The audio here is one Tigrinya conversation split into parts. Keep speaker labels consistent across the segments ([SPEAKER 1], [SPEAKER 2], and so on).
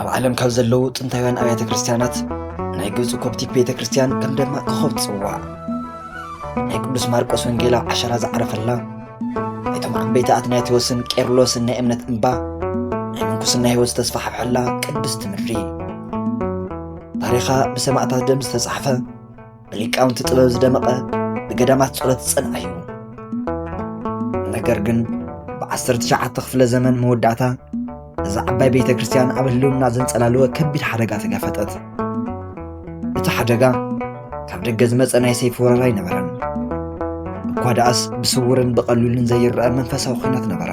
[SPEAKER 1] ኣብ ዓለም ካብ ዘለዉ ጥንታውያን ኣብያተ ክርስቲያናት ናይ ግብፂ ኮፕቲክ ቤተ ክርስቲያን ከም ደማቅ ኮኸብ ትፅዋዕ ናይ ቅዱስ ማርቆስ ወንጌላ ዓሸራ ዝዓረፈላ እቶም ዓበይቲ ኣትናቴዎስን ቄርሎስን ናይ እምነት እምባ ናይ ምንኩስና ህይወት ዝተስፋሕፈሐላ ቅድስቲ ምድሪ ታሪኻ ብሰማእታት ደም ዝተጻሕፈ ብሊቃውንቲ ጥበብ ዝደመቐ ብገዳማት ጸሎት ዝጸንዐ እዩ ነገር ግን ብዓሰርተ ትሽዓተ ክፍለ ዘመን መወዳእታ እዛ ዓባይ ቤተ ክርስቲያን ኣብ ህልውና ዘንጸላለወ ከቢድ ሓደጋ ተጋፈጠት እቲ ሓደጋ ካብ ደገ ዝመፀ ናይ ሰይፊ ወረራ ኣይነበረን እኳ ደኣስ ብስውርን ብቐሊሉን ዘይረአ መንፈሳዊ ኩናት ነበረ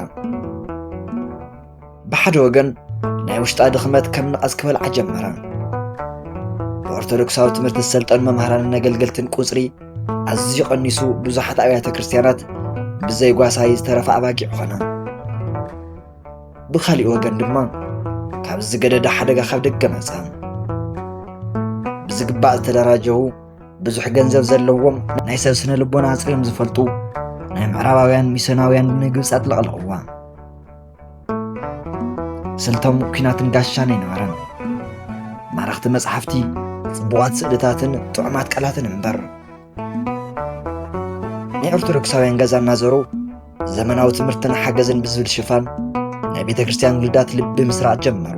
[SPEAKER 1] ብሓደ ወገን ናይ ውሽጣ ድኽመት ከም ንቐጽ ክበልዓ ጀመረ ብኦርቶዶክሳዊ ትምህርቲ ዝሰልጠኑ መምህራንን ኣገልገልትን ቁጽሪ ኣዝዩ ቀኒሱ ብዙሓት ኣብያተ ክርስትያናት ብዘይ ጓሳይ ዝተረፈ ኣባጊዕ ኾነ ብካሊእ ወገን ድማ ካብ ዝገደደ ሓደጋ ካብ ደገ መጸ ብዝግባእ ዝተደራጀዉ ብዙሕ ገንዘብ ዘለዎም ናይ ሰብ ስነ ልቦና ኣጽርዮም ዝፈልጡ ናይ ምዕራባውያን ሚስዮናውያን ንግብፂ ኣጥለቕለቕዋ ስልቶም ኲናትን ጋሻን ኣይነበረን። ማረኽቲ መጽሓፍቲ፣ ጽቡቓት ስእልታትን ጥዑማት ቃላትን እምበር። ናይ ኦርቶዶክሳውያን ገዛ እናዘሩ ዘመናዊ ትምህርትን ሓገዝን ብዝብል ሽፋን ናይ ቤተ ክርስቲያን ውልዳት ልቢ ምስራዕ ጀመሩ።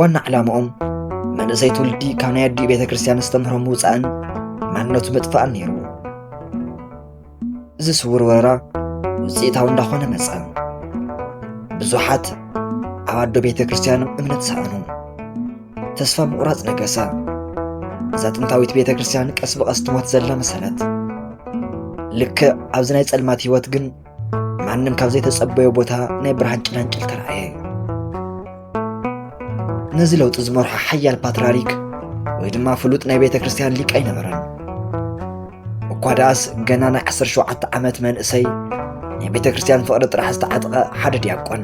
[SPEAKER 1] ዋና ዕላማኦም መንእሰይ ትውልዲ ካብ ናይ ኣዲኡ ቤተ ክርስቲያን ዝተምህሮ ምውፃእን ማንነቱ ምጥፋእን ነይሩ። እዚ ስውር ወረራ ውፅኢታዊ እንዳኾነ መፀ። ብዙሓት ኣብ ኣዶ ቤተ ክርስቲያኖም እምነት ሰኣኑ። ተስፋ ምቑራፅ ነገሰ። እዛ ጥንታዊት ቤተ ክርስቲያን ቀስ ብቐስ ትሞት ዘላ መሰለት። ልክዕ ኣብዚ ናይ ጸልማት ህይወት ግን ማንም ካብ ዘይተጸበዮ ቦታ ናይ ብርሃን ጭላንጭል ተራእየ። ነዚ ለውጢ ዝመርሖ ሓያል ፓትርያርክ ወይ ድማ ፍሉጥ ናይ ቤተ ክርስቲያን ሊቅ ኣይነበረን እኳ ደኣስ ገና ናይ 17 ዓመት መንእሰይ ናይ ቤተ ክርስቲያን ፍቕሪ ጥራሕ ዝተዓጥቀ ሓደ ዲያቆን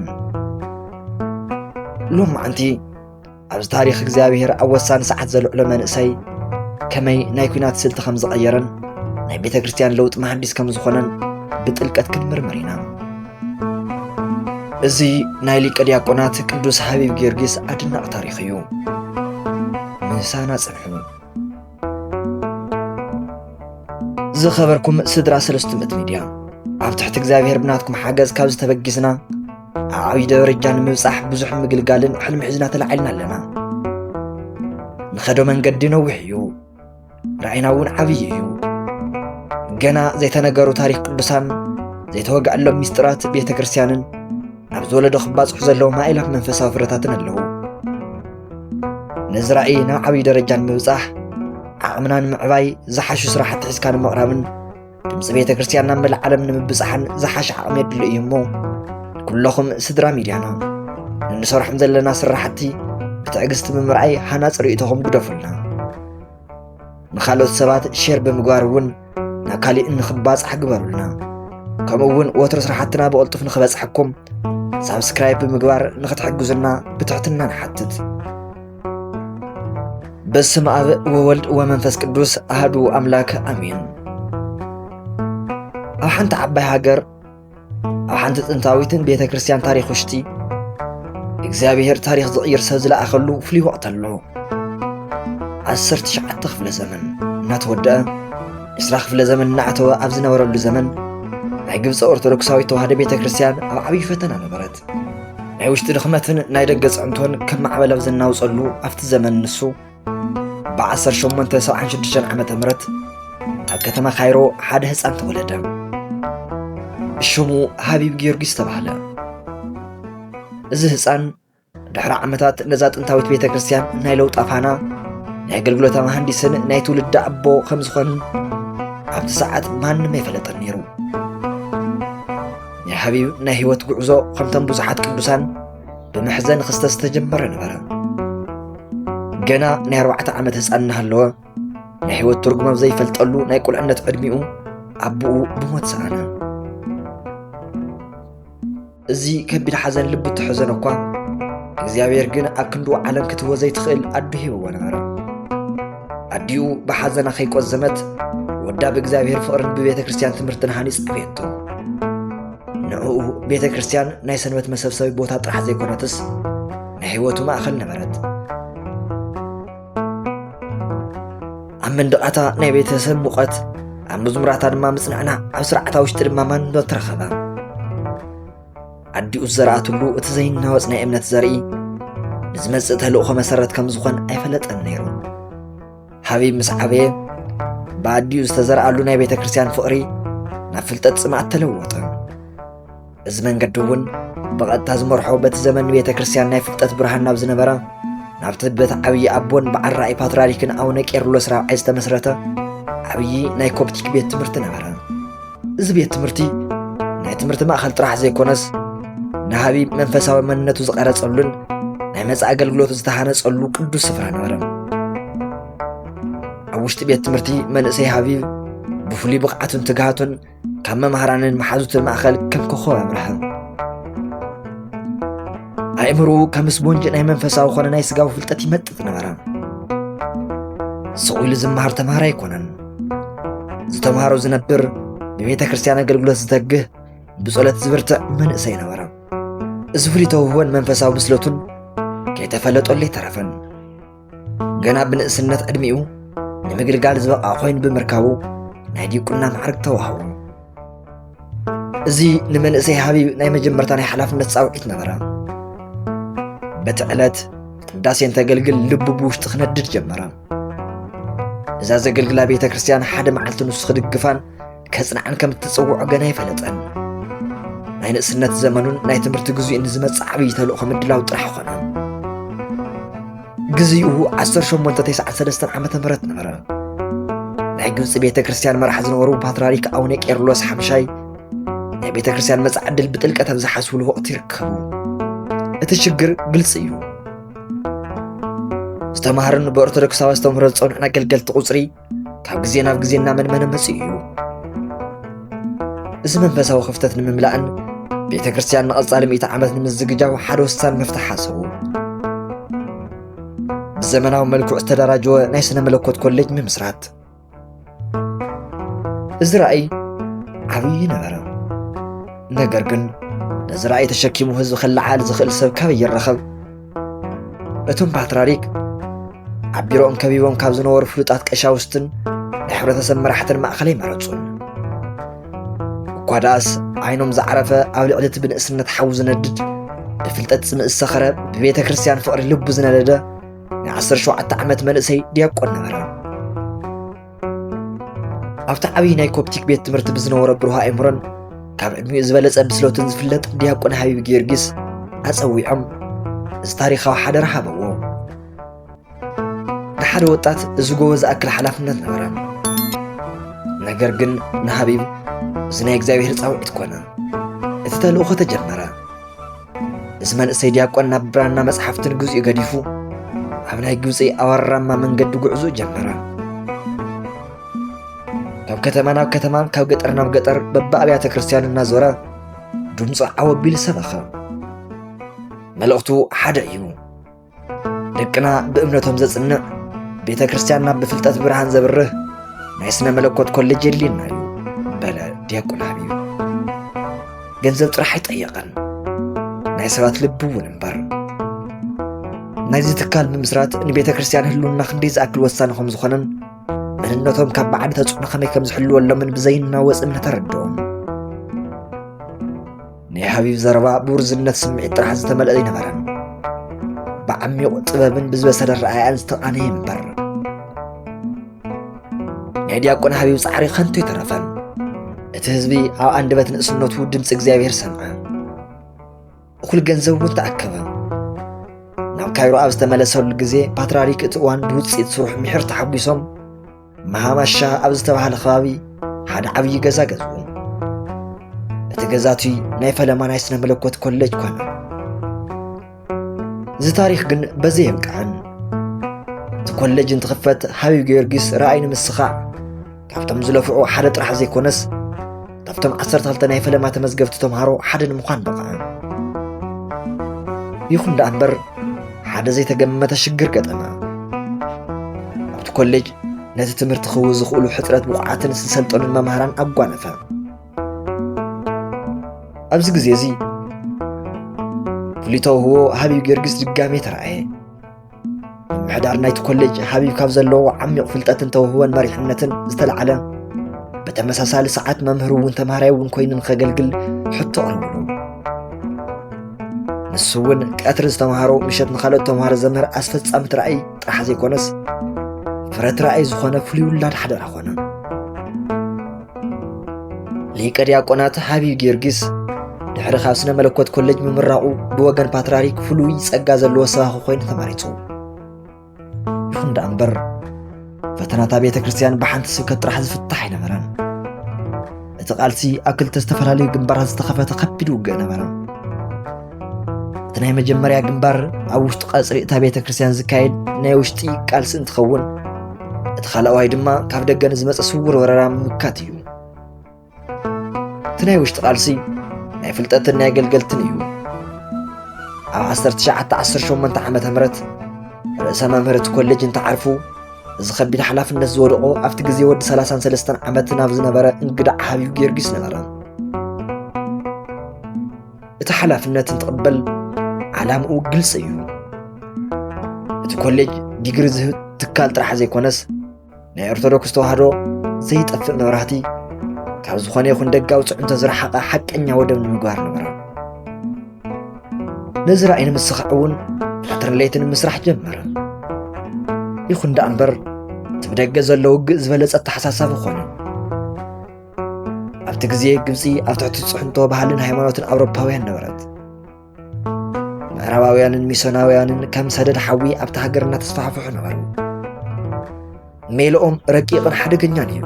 [SPEAKER 1] ሎም መዓንቲ ኣብዚ ታሪክ እግዚኣብሔር ኣብ ወሳኒ ሰዓት ዘልዕሎ መንእሰይ ከመይ ናይ ኩናት ስልቲ ከም ዝቐየረን ናይ ቤተ ክርስቲያን ለውጢ መሃንዲስ ከም ዝኾነን ብጥልቀት ክንምርምር ኢና እዚ ናይ ሊቀ ዲያቆናት ቅዱስ ሓቢብ ጊዮርጊስ ኣድናቂ ታሪኽ እዩ ምሳና ጽንሑ ዝኸበርኩም ስድራ ሰለስቱ ምእቲ ሚድያ ኣብ ትሕቲ እግዚኣብሔር ብናትኩም ሓገዝ ካብ ዝተበጊስና ኣብ ዓብዪ ደረጃ ንምብፃሕ ብዙሕ ምግልጋልን ሕልሚ ሒዝና ተላዒልና ኣለና ንኸዶ መንገዲ ነዊሕ እዩ ራእይና እውን ዓብዪ እዩ። ገና ዘይተነገሩ ታሪክ ቅዱሳን ዘይተወግዐሎም ሚስጥራት ቤተ ክርስቲያንን ኣብዚ ወለዶ ክባፅሑ ዘለዎም ኣእላፍ መንፈሳዊ ፍረታትን ኣለዉ። ነዚ ራእይ ናብ ዓብዪ ደረጃ ንምብፃሕ ዓቕምና ንምዕባይ ዝሓሹ ስራሕቲ ሒዝካ ንምቕራብን ድምፂ ቤተ ክርስቲያን ናብ መላእ ዓለም ንምብፃሕን ዝሓሸ ዓቕሚ የድሉ እዩ እሞ ኩለኹም ስድራ ሚድያና እንሰርሖም ዘለና ስራሕቲ ብትዕግስቲ ብምርኣይ ሃናፅ ርእይቶኹም ግደፉልና ንካልኦት ሰባት ሼር ብምግባር እውን ናብ ካሊእ እንክባፅሕ ግበሩልና ከምኡ እውን ወትሮ ስራሕትና ብቕልጡፍ ንክበፅሐኩም ሳብስክራይብ ብምግባር ንክትሕግዙና ብትሕትና ንሓትት በስም ኣብ ወወልድ ወመንፈስ ቅዱስ ኣህዱ ኣምላክ ኣሜን። ኣብ ሓንቲ ዓባይ ሃገር ኣብ ሓንቲ ጥንታዊትን ቤተ ክርስቲያን ታሪክ ውሽጢ እግዚኣብሔር ታሪክ ዝቕይር ሰብ ዝለኣኸሉ ፍሉይ ወቕት ኣሎ። ዓሰርተ ትሽዓተ ክፍለ ዘመን እናተወደአ ዕስራ ክፍለ ዘመን እናዕተወ ኣብ ዝነበረሉ ዘመን ናይ ግብፂ ኦርቶዶክሳዊት ተዋህዶ ቤተ ክርስቲያን ኣብ ዓብዪ ፈተና ነበረት። ናይ ውሽጢ ድኽመትን ናይ ደገ ፅዕንቶን ከም ማዕበል ኣብ ዘናውፀሉ ኣብቲ ዘመን ንሱ ብ1876 ዓ ም ኣብ ከተማ ካይሮ ሓደ ህፃን ተወለደ ሽሙ ሃቢብ ጊዮርጊስ ተባህለ እዚ ህፃን ድሕሪ ዓመታት ነዛ ጥንታዊት ቤተ ክርስቲያን ናይ ለውጣ ፋና ናይ ኣገልግሎታ መሃንዲስን ናይ ትውልዲ ኣቦ ከም ዝኾንን ኣብቲ ሰዓት ማንም ኣይፈለጠን ነይሩ ናይ ሓቢብ ናይ ህይወት ጉዕዞ ከምቶም ብዙሓት ቅዱሳን ብመሕዘን ክስተ ዝተጀመረ ነበረ። ገና ናይ ኣርባዕተ ዓመት ህፃን እናሃለወ ናይ ህይወት ትርጉም ኣብ ዘይፈልጠሉ ናይ ቁልዕነት ዕድሚኡ ኣቦኡ ብሞት ሰኣነ። እዚ ከቢድ ሓዘን ልቡ እተሐዘነ እኳ እግዚኣብሔር ግን ኣብ ክንዱ ዓለም ክትህቦ ዘይትኽእል ኣዱ ሂብዎ ነበረ። ኣዲኡ ብሓዘና ከይቈዘመት ወዳ ብእግዚኣብሔር ፍቕርን ብቤተ ክርስቲያን ትምህርትን ሃኒጽ ኣበየቶ ንዕኡ ቤተ ክርስቲያን ናይ ሰንበት መሰብሰቢ ቦታ ጥራሕ ዘይኮነትስ ናይ ህይወቱ ማእኸል ነበረት ኣብ መንድቓታ ናይ ቤተሰብ ሙቐት ኣብ መዝሙራታ ድማ ምጽንዕና ኣብ ስርዓታ ውሽጢ ድማ ማንነት ተረኸበ ኣዲኡ ዝዘርኣትሉ እቲ ዘይናወፅ ናይ እምነት ዘርኢ ንዝመፅእ ተልእኾ መሰረት ከም ዝኾን ኣይፈለጠን ነይሩ ሃቢብ ምስ ዓበየ ብኣዲኡ ዝተዘርኣሉ ናይ ቤተ ክርስቲያን ፍቕሪ ናብ ፍልጠት ጽምኣት ተለወጠ እዚ መንገዲ እውን ብቐጥታ ዝመርሖ በቲ ዘመን ቤተ ክርስቲያን ናይ ፍልጠት ብርሃን ናብ ዝነበራ ናብቲ በቲ ዓብዪ ኣቦን በዓል ራእይ ፓትርያርክን ኣቡነ ቄርሎስ ራብዓይ ዝተመስረተ ዓብዪ ናይ ኮፕቲክ ቤት ትምህርቲ ነበረ እዚ ቤት ትምህርቲ ናይ ትምህርቲ ማእኸል ጥራሕ ዘይኮነስ ንሃቢ መንፈሳዊ መንነቱ ዝቐረጸሉን ናይ መጻኢ ኣገልግሎቱ ዝተሃነጸሉ ቅዱስ ስፍራ ነበረ ኣብ ውሽጢ ቤት ትምህርቲ መንእሰይ ሃቢብ ብፍሉይ ብቕዓቱን ትግሃቱን ካብ መምሃራንን መሓዙትን ማእኸል ከም ኮኸብ ኣብርሀ ኣእምሮኡ ከም ስቦንጅ ናይ መንፈሳዊ ኮነ ናይ ስጋዊ ፍልጠት ይመጥጥ ነበረ ስቑ ኢሉ ዝመሃር ተምሃር ኣይኮነን ዝተምሃሮ ዝነብር ብቤተ ክርስቲያን ኣገልግሎት ዝተግህ ብጸሎት ዝብርትዕ መንእሰይ ነበረ እዚ ፍሉይ ተውህቦን መንፈሳዊ ብስለቱን ከይተፈለጠሉ ኣይተረፈን ገና ብንእስነት ዕድሚኡ ንምግልጋል ዝበቕዓ ኮይኑ ብምርካቡ ናይ ዲቁና ማዕርግ ተዋህቡ እዚ ንመንእሰይ ሃቢብ ናይ መጀመርታ ናይ ሓላፍነት ፃውዒት ነበረ በቲ ዕለት ቅዳሴ እንተገልግል ልቡ ብውሽጢ ክነድድ ጀመረ እዛ ዘገልግላ ቤተ ክርስቲያን ሓደ መዓልቲ ንሱ ክድግፋን ከጽንዓን ከም እትጽውዖ ገና ኣይፈለጠን። ናይ ንእስነት ዘመኑን ናይ ትምህርቲ ግዜኡን ንዝመጽእ ዓብዪ ተልእኾ ምድላው ጥራሕ ኾነ። ግዜኡ 1893 ዓ ም ነበረ። ናይ ግብፂ ቤተ ክርስቲያን መራሕ ዝነበሩ ፓትርያርክ ኣቡነ ቄርሎስ ሓምሻይ ናይ ቤተ ክርስቲያን መጻኢ ዕድል ብጥልቀት ኣብ ዝሓስብሉ ወቕቲ ይርከቡ። እቲ ሽግር ግልፂ እዩ። ዝተማሃርን ብኦርቶዶክሳዊ ኣስተምህሮ ዝጸንዑን ኣገልገልቲ ቁፅሪ ካብ ግዜ ናብ ግዜ እናመንመነ መፅኡ እዩ እዚ መንፈሳዊ ክፍተት ንምምላእን ቤተ ክርስቲያን ንቐፃሊ ሚእቲ ዓመት ንምዝግጃው ሓደ ወሳኒ መፍትሒ ሓሰቡ ብዘመናዊ መልክዑ ዝተደራጀወ ናይ ስነ መለኮት ኮሌጅ ምምስራት እዚ ራእይ ዓብዪ ነበረ ነገር ግን ነዚ ራእይ ተሸኪሙ ህዝቢ ክለዓል ዝኽእል ሰብ ካበይ ይረኸብ እቶም ፓትራሪክ ኣብ ቢሮኦም ከቢቦም ካብ ዝነበሩ ፍሉጣት ቀሻውስትን ናይ ሕብረተሰብ መራሕትን ማእኸለይ መረፁን እኳ ደኣስ ዓይኖም ዝዓረፈ ኣብ ልዕሊ እቲ ብንእስነት ሓዊ ዝነድድ ብፍልጠት ጽምእ ዝሰኸረ ብቤተ ክርስቲያን ፍቕሪ ልቡ ዝነደደ ናይ ዓሰርተ ሸውዓተ ዓመት መንእሰይ ዲያቆን ነበረ ኣብቲ ዓብዪ ናይ ኮፕቲክ ቤት ትምህርቲ ብዝነበሮ ብሩህ ኣእምሮን ካብ ዕድሚኡ ዝበለጸ ብስለቱን ዝፍለጥ ዲያቆን ሃቢብ ጊዮርጊስ ኣጸዊዖም እዚ ታሪኻዊ ሓደራ ሃበዎ። ንሓደ ወጣት እዚ ጎቦ ዝኣክል ሓላፍነት ነበረ። ነገር ግን ንሃቢብ እዚ ናይ እግዚኣብሔር ጻውዒት ኮነ። እቲ ተልእኾ ተጀመረ። እዚ መንእሰይ ዲያቆን ናብ ብራና መጽሓፍትን ግዜኡ ገዲፉ ኣብ ናይ ግብፂ ኣወራማ መንገዲ ጉዕዞ ጀመረ። ካብ ከተማ ናብ ከተማ ካብ ገጠር ናብ ገጠር በብኣብያተ ክርስቲያን እናዞረ ድምፁ ዓወቢል ሰበኸ። መልእኽቱ ሓደ እዩ። ደቅና ብእምነቶም ዘጽንዕ ቤተ ክርስቲያንና ብፍልጠት ብርሃን ዘብርህ ናይ ስነ መለኮት ኮሌጅ የድልየና እዩ በለ ዲያቆን ሃቢብ ገንዘብ ጥራሕ ኣይጠየቐን ናይ ሰባት ልቢ እውን እምበር ናይዚ ትካል ምምስራት ንቤተ ክርስቲያን ህልውና ክንደይ ዝኣክል ወሳኒ ከም ዝኾነን መንነቶም ካብ ባዕዲ ተጽዕኖ ከመይ ከም ዝሕልወሎምን ብዘይናወጽ እምነት ኣረድኦም ናይ ሓቢብ ዘረባ ብውርዝነት ስምዒት ጥራሕ ዝተመልአ ኣይነበረን ብዓሚቑ ጥበብን ብዝበሰለ ረኣያን ዝተቓነየ እምበር ናይ ዲያቆን ሓቢብ ፃዕሪ ከንቱ ኣይተረፈን እቲ ህዝቢ ኣብ ኣንደበት ንእስነቱ ድምፂ እግዚኣብሔር ሰምዐ እኹል ገንዘብ እውን ተኣከበ ናብ ካይሮ ኣብ ዝተመለሰሉ ግዜ ፓትርያርክ እቲ እዋን ብውፅኢት ስርሑ ምሕር ተሓጒሶም መሃባሻ ኣብ ዝተባህለ ከባቢ ሓደ ዓብዪ ገዛ ገዝኡ እቲ ገዛ እቲ ናይ ፈለማ ናይ ስነ መለኮት ኮሌጅ ኮነ እዚ ታሪክ ግን በዘይ የብቅዐን እቲ ኮሌጅ እንትኽፈት ሃቢብ ጊዮርጊስ ረኣይ ንምስኻዕ ካብቶም ዝለፍዑ ሓደ ጥራሕ ዘይኮነስ ካብቶም ዓሰርተ ክልተ ናይ ፈለማ ተመዝገብቲ ተምሃሮ ሓደ ንምዃን በቕዐ ይኹን ደኣ እምበር ሓደ ዘይተገመተ ሽግር ገጠመ ኣብቲ ኮሌጅ ነቲ ትምህርቲ ክህቡ ዝኽእሉ ሕፅረት ብቑዓትን ዝሰልጠኑን መምሃራን ኣጓነፈ ኣብዚ ግዜ እዚ ፍሉይ ተውህቦ ሃቢብ ጊዮርጊስ ድጋሜ ተረኣየ ምሕዳር ናይቲ ኮሌጅ ሃቢብ ካብ ዘለዎ ዓሚቕ ፍልጠትን ተውህወን መሪሕነትን ዝተለዓለ ብተመሳሳሊ ሰዓት መምህር እውን ተምሃራይ እውን ኮይኑ ንኸገልግል ሕቶ ቕርብሉ ንሱ እውን ቀትሪ ዝተምሃሮ ምሸት ንካልኦት ተምሃሮ ዘምህር ኣስፈጻሚ ትራእይ ጥራሕ ዘይኮነስ ፍረት ራእይ ዝኾነ ፍሉይ ውላድ ሓደራ ኾነ ሊቀ ዲያቆናት ሓቢብ ጊዮርጊስ ድሕሪ ካብ ስነ መለኮት ኮሌጅ ምምራቑ ብወገን ፓትርያርክ ፍሉይ ጸጋ ዘለዎ ሰባኺ ኮይኑ ተመሪጹ። ይኹን ደኣ እምበር ፈተናታ ቤተ ክርስቲያን ብሓንቲ ስብከት ጥራሕ ዝፍታሕ ኣይነበረን። እቲ ቃልሲ ኣብ ክልተ ዝተፈላለዩ ግንባራት ዝተኸፈተ ከቢድ ውግእ ነበረ። እቲ ናይ መጀመርያ ግንባር ኣብ ውሽጢ ቀፅሪ እታ ቤተ ክርስቲያን ዝካየድ ናይ ውሽጢ ቃልሲ እንትኸውን እቲ ካልኣዋይ ድማ ካብ ደገ ንዝመፀ ስውር ወረራ ምምካት እዩ እቲ ናይ ውሽጢ ቃልሲ ናይ ፍልጠትን ናይ ኣገልገልትን እዩ ኣብ 1918 ዓ ም ርእሰ መምህር እቲ ኮሌጅ እንተዓርፉ እዚ ከቢድ ሓላፍነት ዝወደቆ ኣብቲ ግዜ ወዲ 33 ዓመት ናብ ዝነበረ እንግዳ ዓብዩ ጊዮርጊስ ነበረ እቲ ሓላፍነት እንትቕበል ዓላምኡ ግልፂ እዩ። እቲ ኮሌጅ ዲግሪ ዝህብ ትካል ጥራሕ ዘይኮነስ ናይ ኦርቶዶክስ ተዋህዶ ዘይጠፍእ መብራህቲ ካብ ዝኾነ ይኹን ደጋዊ ፅዕንቶ ዝረሓቐ ሓቀኛ ወደብ ንምግባር ነበረ። ነዚ ራእይ ንምስኻዕ እውን ቀትርን ለይትን ምስራሕ ጀመረ። ይኹን ደኣ እምበር እቲ ብደገ ዘሎ ውግእ ዝበለፀ ኣተሓሳሳቢ ኮነ። ኣብቲ ግዜ ግብጺ ኣብ ትሕቲ ጽሕንቶ ባህልን ሃይማኖትን ኣውሮፓውያን ነበረት ምዕራባውያንን ሚሶናውያንን ከም ሰደድ ሓዊ ኣብቲ ሃገር እናተስፋሕፍሑ ነበሩ ሜልኦም ረቂቕን ሓደገኛን እዩ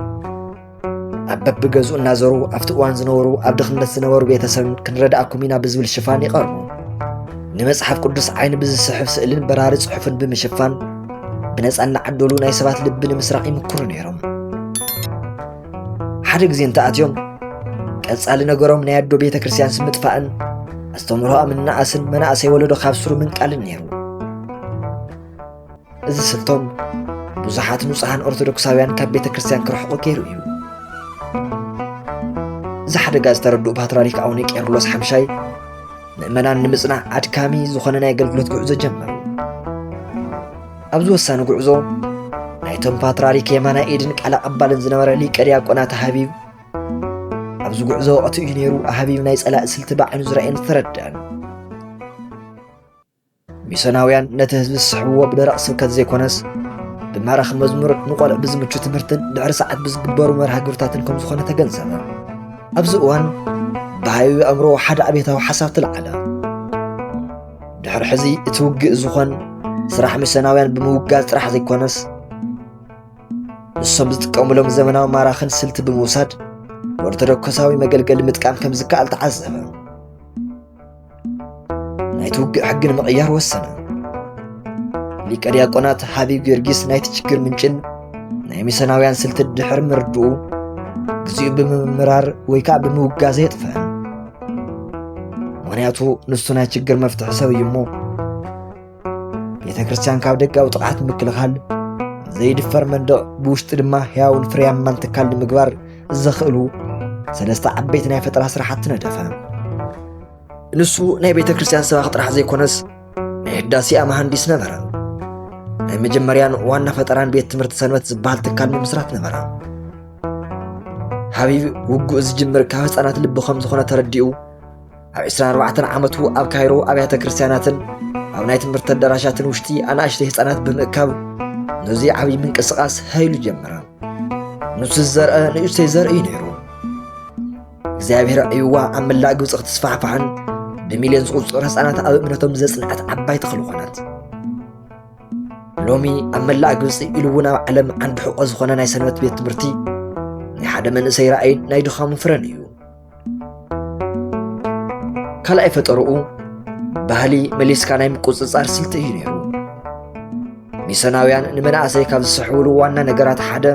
[SPEAKER 1] ኣብ በብገዝኡ እናዘሩ ኣብቲ እዋን ዝነበሩ ኣብ ድኽነት ዝነበሩ ቤተሰብ ክንረዳእኩም ኢና ብዝብል ሽፋን ይቐርቡ ንመጽሓፍ ቅዱስ ዓይኒ ብዝስሕብ ስእልን በራሪ ጽሑፍን ብምሽፋን ብነፃ እናዓደሉ ናይ ሰባት ልቢ ንምስራቕ ይምክሩ ነይሮም ሓደ ግዜ እንተኣትዮም ቀጻሊ ነገሮም ናይ ኣዶ ቤተ ክርስቲያን ስምጥፋእን ኣስተምህሮኣ ምናኣስን መናእሰይ ወለዶ ካብ ስሩ ምንቃልን ነይሩ እዚ ስልቶም ብዙሓት ንጹሓን ኦርቶዶክሳውያን ካብ ቤተ ክርስቲያን ክርሕቑ ገይሩ እዩ እዚ ሓደጋ ዝተረድኡ ፓትርያርክ ኣቡነ ቄርሎስ ሓምሻይ ምእመናን ንምጽናዕ ኣድካሚ ዝኾነ ናይ ኣገልግሎት ጉዕዞ ጀመሩ ኣብዚ ወሳኒ ጉዕዞ ናይቶም ፓትርያርክ የማናይ ኢድን ቃል ኣቐባልን ዝነበረ ሊቀ ዲያቆናት ሃቢብ ኣብዚ ጉዕዞ ወቕቲ እዩ ነይሩ ሃቢብ ናይ ጸላእ ስልቲ ብዓይኑ ዝረኣየን ዝተረድአን ሚሶናውያን ነቲ ህዝቢ ዝስሕብዎ ብደረቕ ስብከት ዘይኮነስ ብማራኺ መዝሙር ንቆልዕ ብዝምቹ ትምህርትን ድሕሪ ሰዓት ብዝግበሩ መርሃ ግብርታትን ከም ዝኾነ ተገንዘበ ኣብዚ እዋን ብሃዩ ኣእምሮ ሓደ ኣብታዊ ሓሳብ ትለዓለ ድሕሪ ሕዚ እቲ ውግእ ዝኾን ስራሕ ሚሰናውያን ብምውጋዝ ጥራሕ ዘይኮነስ ንሶም ዝጥቀሙሎም ዘመናዊ ማራኽን ስልቲ ብምውሳድ ኦርቶዶክሳዊ መገልገሊ ምጥቃም ከም ዝከኣል ተዓዘበ። ናይቲ ውግእ ሕጊ ንምቕያር ወሰነ። ሊቀ ዲያቆናት ሃቢብ ጊዮርጊስ ናይቲ ችግር ምንጭን ናይ ሚሰናውያን ስልቲ ድሕሪ ምርድኡ ግዚኡ ብምምራር ወይ ከዓ ብምውጋዘ የጥፍአን። ምክንያቱ ንሱ ናይ ችግር መፍትሒ ሰብ እዩ እሞ ቤተ ክርስቲያን ካብ ደጋዊ ጥቕዓት ምክልኻል ዘይድፈር መንደቕ ብውሽጢ ድማ ሕያውን ፍርያማን ትካል ንምግባር ዘኽእሉ ሰለስተ ዓበይቲ ናይ ፈጠራ ስራሕቲ ነደፈ ንሱ ናይ ቤተ ክርስቲያን ሰባኽ ጥራሕ ዘይኮነስ ናይ ህዳሴኣ መሃንዲስ ነበረ ናይ መጀመርያን ዋና ፈጠራን ቤት ትምህርቲ ሰንበት ዝበሃል ትካል ንምስራት ነበረ ሓቢብ ውግኡ ዝጅምር ካብ ህፃናት ልቢ ከም ዝኾነ ተረዲኡ ኣብ 24 ዓመቱ ኣብ ካይሮ ኣብያተ ክርስቲያናትን ኣብ ናይ ትምህርቲ ኣዳራሻትን ውሽጢ ኣናእሽተይ ህፃናት ብምእካብ ነዚ ዓብዪ ምንቅስቓስ ሃይሉ ጀመረ ንሱ ዝዘርአ ንእሽተይ ዘርኢ እዩ ነይሩ እግዚኣብሔር ዕይዋ ኣብ መላእ ግብፂ ክትስፋሕፋሕን ብሚልዮን ዝቑፅሩ ህፃናት ኣብ እምነቶም ዘፅንዐት ዓባይ ተኽሊ ኾነት ሎሚ ኣብ መላእ ግብፂ ኢሉ እውን ኣብ ዓለም ዓንዲ ሕቆ ዝኾነ ናይ ሰንበት ቤት ትምህርቲ ናይ ሓደ መንእሰይ ራእይን ናይ ድኻሙ ፍረን እዩ ካልኣይ ፈጠርኡ ባህሊ መሊስካ ናይ ምቁፅፃር ስልቲ እዩ ነይሩ ሚሰናውያን ንመናእሰይ ካብ ዝስሕብሉ ዋና ነገራት ሓደ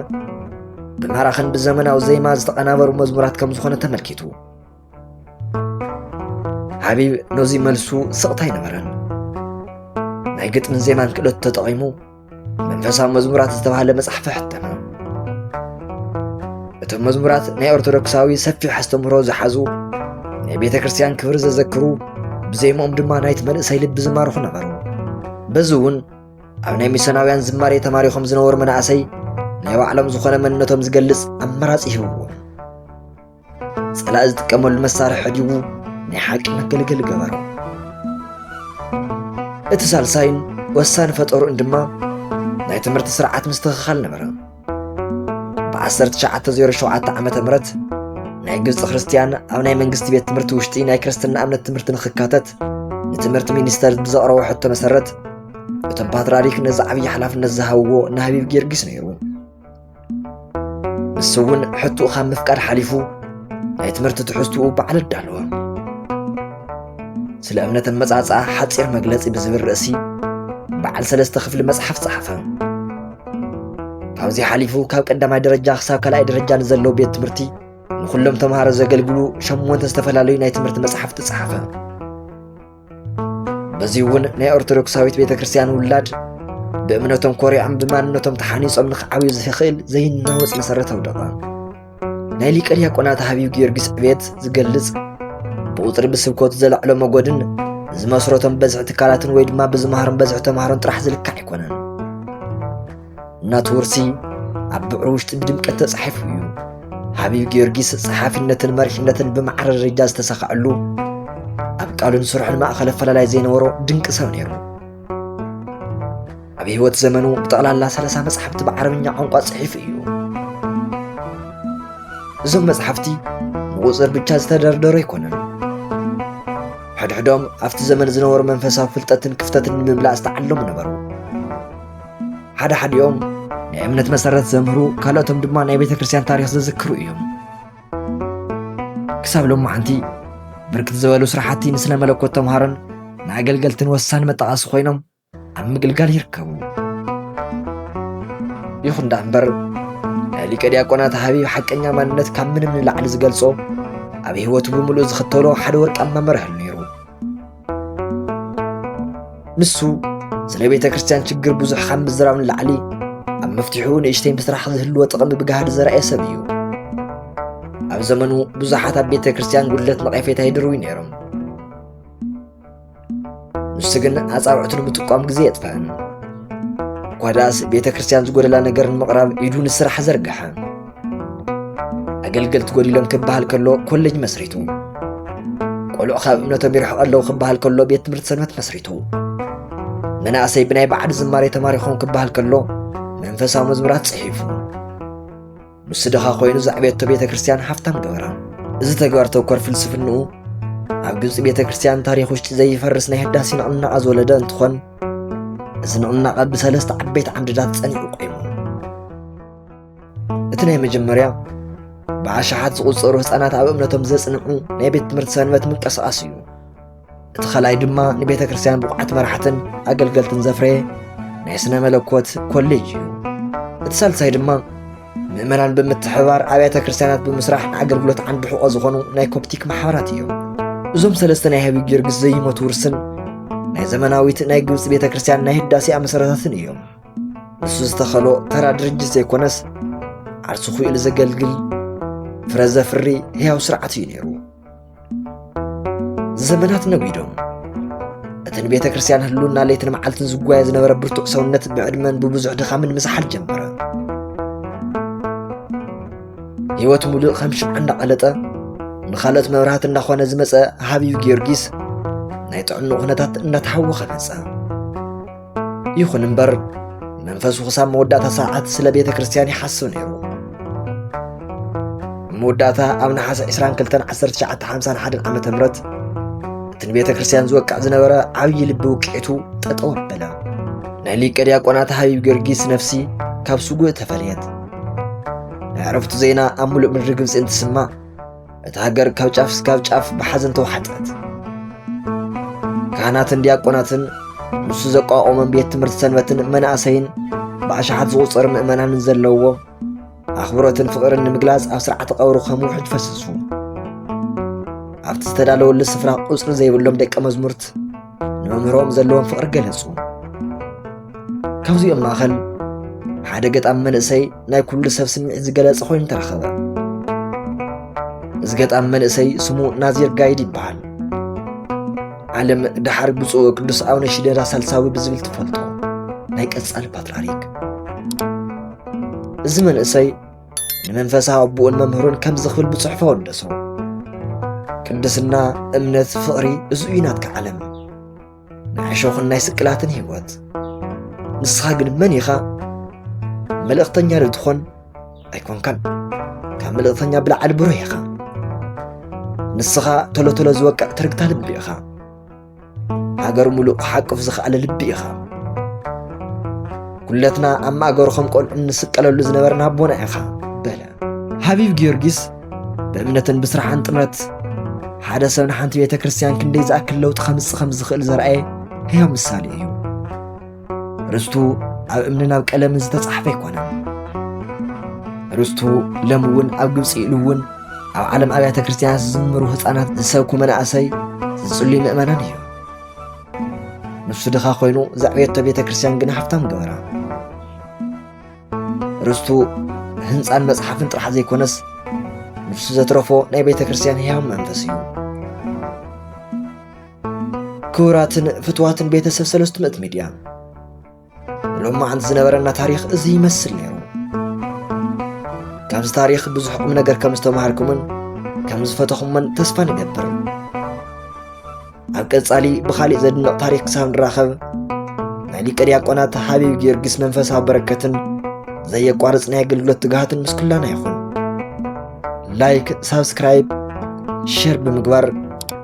[SPEAKER 1] ብማራኽን ብዘመናዊ ዜማ ዝተቐናበሩ መዝሙራት ከም ዝኾነ ተመልኪቱ ሓቢብ ነዚ መልሱ ስቕታ ኣይነበረን ናይ ግጥምን ዜማን ክእለቱ ተጠቒሙ መንፈሳዊ መዝሙራት ዝተባህለ መፅሓፍ ሕተመ እቶም መዝሙራት ናይ ኦርቶዶክሳዊ ሰፊሕ ኣስተምህሮ ዝሓዙ ናይ ቤተ ክርስቲያን ክብሪ ዘዘክሩ ብዜምኦም ድማ ናይቲ መንእሰይ ልቢ ዝማርኹ ነበሩ በዚ እውን ኣብ ናይ ሚስዮናውያን ዝማሬ ተማሪኾም ዝነበሩ መናእሰይ ናይ ባዕሎም ዝኾነ መንነቶም ዝገልጽ ኣማራጺ ሂብዎም ጸላእ ዝጥቀመሉ መሳርሒ ዲቡ ናይ ሓቂ መገልገሊ ገበሮ እቲ ሳልሳይን ወሳኒ ፈጠሩን ድማ ናይ ትምህርቲ ስርዓት ምስትኽኻል ነበረ ብ1907 ዓ ም ናይ ግብፂ ክርስትያን ኣብ ናይ መንግስቲ ቤት ትምህርቲ ውሽጢ ናይ ክርስትና እምነት ትምህርቲ ንክካተት ንትምህርቲ ሚኒስተር ብዘቕረቦ ሕቶ መሰረት እቶም ፓትርያርክ ነዚ ዓብዪ ሓላፍነት ዝሃብዎ ንሃቢብ ጊዮርጊስ ነይሩ ንሱ እውን ሕቱኡ ካብ ምፍቃድ ሓሊፉ ናይ ትምህርቲ ትሕዝትኡ ባዕሉ ኣዳለወ ስለ እምነት ኣመጻጽኣ ሓፂር መግለፂ ብዝብል ርእሲ በዓል ሰለስተ ክፍሊ መፅሓፍ ፀሓፈ ካብዚ ሓሊፉ ካብ ቀዳማይ ደረጃ ክሳብ ካልኣይ ደረጃ ንዘለዉ ቤት ትምህርቲ ንኹሎም ተምሃሮ ዘገልግሉ ሸሞንተ ዝተፈላለዩ ናይ ትምህርቲ መፅሓፍቲ ፀሓፈ በዚ እውን ናይ ኦርቶዶክሳዊት ቤተ ክርስቲያን ውላድ ብእምነቶም ኮሪዖም ብማንነቶም ተሓኒፆም ንክዓብዩ ዝኽእል ዘይናወፅ መሰረታዊ ደቓ ናይ ሊቀ ዲያቆናት ሃብዩ ጊዮርጊስ ዕቤት ዝገልጽ ብቁፅሪ ብስብከቱ ዘለዕሎ መጎድን ዝመስረቶም በዝሒ ትካላትን ወይ ድማ ብዝመሃሮም በዝሒ ተምሃሮን ጥራሕ ዝልካዕ ኣይኮነን እናቱ ውርሲ ኣብ ብዕሩ ውሽጢ ብድምቀት ተጻሒፉ እዩ። ሓቢብ ጊዮርጊስ ጸሓፊነትን መሪሕነትን ብማዕረ ደረጃ ዝተሳኸዐሉ ኣብ ቃሉን ስርሑን ማእኸል ኣፈላላይ ዘይነበሮ ድንቂ ሰብ ነይሩ። ኣብ ህይወት ዘመኑ ብጠቕላላ ሰላሳ መጽሓፍቲ ብዓረብኛ ቋንቋ ጽሒፉ እዩ። እዞም መጽሓፍቲ ብቑፅር ብቻ ዝተደርደሩ ኣይኮነን። ሕድሕዶም ኣብቲ ዘመን ዝነበሩ መንፈሳዊ ፍልጠትን ክፍተትን ንምምላእ ዝተዓለሙ ነበሩ። ሓደ ሓዲኦም ናይ እምነት መሰረት ዘምህሩ ካልኦቶም ድማ ናይ ቤተ ክርስቲያን ታሪክ ዘዝክሩ እዮም ክሳብ ሎማዓንቲ ብርክት ዝበሉ ስራሕቲ ንስነ መለኮት ተምሃሮን ንኣገልገልትን ወሳኒ መጣቐሲ ኮይኖም ኣብ ምግልጋል ይርከቡ ይኹን ዳኣ እምበር ናይ ሊቀ ዲያቆናት ሃቢብ ሓቀኛ ማንነት ካብ ምንም ንላዕሊ ዝገልጾ ኣብ ህይወቱ ብምሉእ ዝኽተሎ ሓደ ወርቃማ መርህ ኣሎ ንሱ ስለ ቤተ ክርስቲያን ችግር ብዙሕ ካብ ምዝራብ ንላዕሊ ኣብ መፍትሒኡ ንእሽተይ ምስራሕ ዝህልዎ ጥቕሚ ብጋህዲ ዘርኣየ ሰብ እዩ ኣብ ዘመኑ ብዙሓት ኣብ ቤተ ክርስቲያን ጉድለት ነቐፌታ ይድርቡ ነይሮም ንሱ ግን ኣፃብዕቱ ንምጥቋም ግዜ የጥፍእን እኳ ደኣስ ቤተ ክርስቲያን ዝጎደላ ነገር ንምቕራብ ኢዱ ንስራሕ ዘርግሐ ኣገልገልቲ ጎዲሎም ክበሃል ከሎ ኮሌጅ መስሪቱ ቆልዑ ካብ እምነቶም ይርሕቑ ኣለዉ ክበሃል ከሎ ቤት ትምህርቲ ሰንበት መስሪቱ መናእሰይ ብናይ ባዕዲ ዝማሬ ተማሪኾም ክበሃል ከሎ መንፈሳዊ መዝሙራት ጽሒፉ ንሱ ድኻ ኮይኑ ዘዕቤቶ ቤተ ክርስቲያን ሃብታም ገበራ እዚ ተግባር ተኮር ፍልስፍንኡ ኣብ ግብፂ ቤተ ክርስቲያን ታሪክ ውሽጢ ዘይፈርስ ናይ ህዳሴ ንቕናቐ ዝወለደ እንትኾን እዚ ንቕናቐ ብሰለስተ ዓበይቲ ዓምድታት ጸኒዑ ቆይሙ እቲ ናይ መጀመርያ ብኣሽሓት ዝቝጸሩ ህፃናት ኣብ እምነቶም ዘጽንዑ ናይ ቤት ትምህርቲ ሰንበት ምንቅስቓስ እዩ እቲ ኸልኣይ ድማ ንቤተ ክርስቲያን ብቑዓት መራሕትን ኣገልገልትን ዘፍረየ ናይ ስነ መለኮት ኮሌጅ እዩ እቲ ሳልሳይ ድማ ምእመናን ብምትሕባር ኣብያተ ክርስቲያናት ብምስራሕ ንኣገልግሎት ዓንዲ ሕቖ ዝኾኑ ናይ ኮፕቲክ ማሕበራት እዮም እዞም ሰለስተ ናይ ሃቢ ጊዮርጊስ ዘይሞት ውርስን ናይ ዘመናዊት ናይ ግብፂ ቤተ ክርስቲያን ናይ ህዳሴኣ መሰረታትን እዮም ንሱ ዝተኸሎ ተራ ድርጅት ዘይኮነስ ዓርሱ ኹኢሉ ዘገልግል ፍረ ዘፍሪ ህያው ስርዓት እዩ ነይሩ ዘመናት ነጒዶም እቲ ንቤተ ክርስቲያን ህሉና ለይትን መዓልትን ዝጓየ ዝነበረ ብርቱዕ ሰውነት ብዕድመን ብብዙሕ ድኻምን ምዝሓል ጀመረ ህይወት ሙሉእ ከም ሽምዓ እንዳቐለጠ ንኻልኦት መብራህቲ እንዳኾነ ዝመፀ ሃቢብ ጊዮርጊስ ናይ ጥዕኑ ኩነታት እንዳተሓወኸ መፀ ይኹን እምበር መንፈሱ ክሳብ መወዳእታ ሰዓት ስለ ቤተ ክርስቲያን ይሓስብ ነይሩ መወዳእታ ኣብ ነሓሰ 221951 ዓ ም እቲ ንቤተ ክርስቲያን ዝወቅዕ ዝነበረ ዓብዪ ልቢ ውቅዒቱ ጠጠው ኣበለ ናይ ሊቀ ዲያቆናት ሃቢብ ጊዮርጊስ ነፍሲ ካብ ስጉእ ተፈልየት ናይ ዕረፍቱ ዜና ኣብ ሙሉእ ምድሪ ግብፂ እንትስማዕ እታ ሃገር ካብ ጫፍ እስካብ ጫፍ ብሓዘን ተዋሕጠት። ካህናትን ዲያቆናትን ንሱ ዘቋቖመን ቤት ትምህርቲ ሰንበትን መናእሰይን ብኣሽሓት ዝቑጸሩ ምእመናንን ዘለዎ ኣኽብሮትን ፍቕርን ንምግላጽ ኣብ ስርዓተ ቀብሩ ከም ውሕጅ ፈሰሱ። ኣብቲ ዝተዳለወሉ ስፍራ ቁጽሪ ዘይብሎም ደቀ መዝሙርት ንመምህሮም ዘለዎም ፍቕሪ ገለጹ። ካብዚኦም ማእኸል ሓደ ገጣሚ መንእሰይ ናይ ኩሉ ሰብ ስምዒት ዝገለጸ ኮይኑ ተረኸበ። እዚ ገጣሚ መንእሰይ ስሙ ናዚር ጋይድ ይበሃል። ዓለም ደሓር ብፁዕ ቅዱስ ኣቡነ ሽደራ ሳልሳዊ ብዝብል ትፈልጦ ናይ ቀጻሊ ፓትርያርክ እዚ መንእሰይ ንመንፈሳዊ ኣቦኡን መምህሩን ከምዚ ክብል ብጽሑፎ ወደሶ ቅድስና እምነት ፍቕሪ እዚ እዩ ናትካ ዓለም ናይ ዕሾኽን ናይ ስቅላትን ህይወት ንስኻ ግን መን ኢኻ መልእኽተኛ ዶ ትኾን ኣይኮንካን ካብ መልእኽተኛ ብላዕሊ ብሩህ ኢኻ ንስኻ ቶሎ ቶሎ ዝወቅዕ ትርግታ ልቢ ኢኻ ሃገር ሙሉእ ክሓቅፍ ዝኸኣለ ልቢ ኢኻ ኩለትና ኣብ ማእገሩ ከም ቆልዑ እንስቀለሉ ዝነበርና ኣቦና ኢኻ በለ ሃቢብ ጊዮርጊስ ብእምነትን ብስራሕን ጥምረት ሓደ ሰብ ንሓንቲ ቤተ ክርስቲያን ክንደይ ዝኣክል ለውጢ ከምጽእ ከም ዝኽእል ዘርኣየ ህያው ምሳሌ እዩ ርስቱ ኣብ እምንን ኣብ ቀለምን ዝተጻሕፈ ኣይኮነን። ርስቱ ሎም እውን ኣብ ግብፂ ኢሉ እውን ኣብ ዓለም ኣብያተ ክርስቲያናት ዝዝምሩ ህፃናት ዝሰብኩ መናእሰይ ዝጽልዩ ምእመናን እዩ። ንሱ ድኻ ኮይኑ ዘዕብየቶ ቤተ ክርስቲያን ግን ሃብታም ገበራ። ርስቱ ህንፃን መጽሓፍን ጥራሕ ዘይኮነስ ንሱ ዘትረፎ ናይ ቤተ ክርስቲያን ህያው መንፈስ እዩ። ክቡራትን ፍትዋትን ቤተሰብ ሰለስቱ ምእት ሚድያ ሎም መዓንቲ ዝነበረና ታሪክ እዚ ይመስል ነይሩ ካብዚ ታሪክ ብዙሕ ቁም ነገር ከም ዝተማሃርኩምን ከም ዝፈተኹምን ተስፋ ንገብር ኣብ ቀጻሊ ብካሊእ ዘድንቕ ታሪክ ክሳብ ንራኸብ ናይ ሊቀ ዲያቆናት ሓቢብ ጊዮርጊስ መንፈሳዊ በረከትን ዘየቋርፅ ናይ ኣገልግሎት ትግሃትን ምስ ኩላና ይኹን ላይክ ሳብስክራይብ ሼር ብምግባር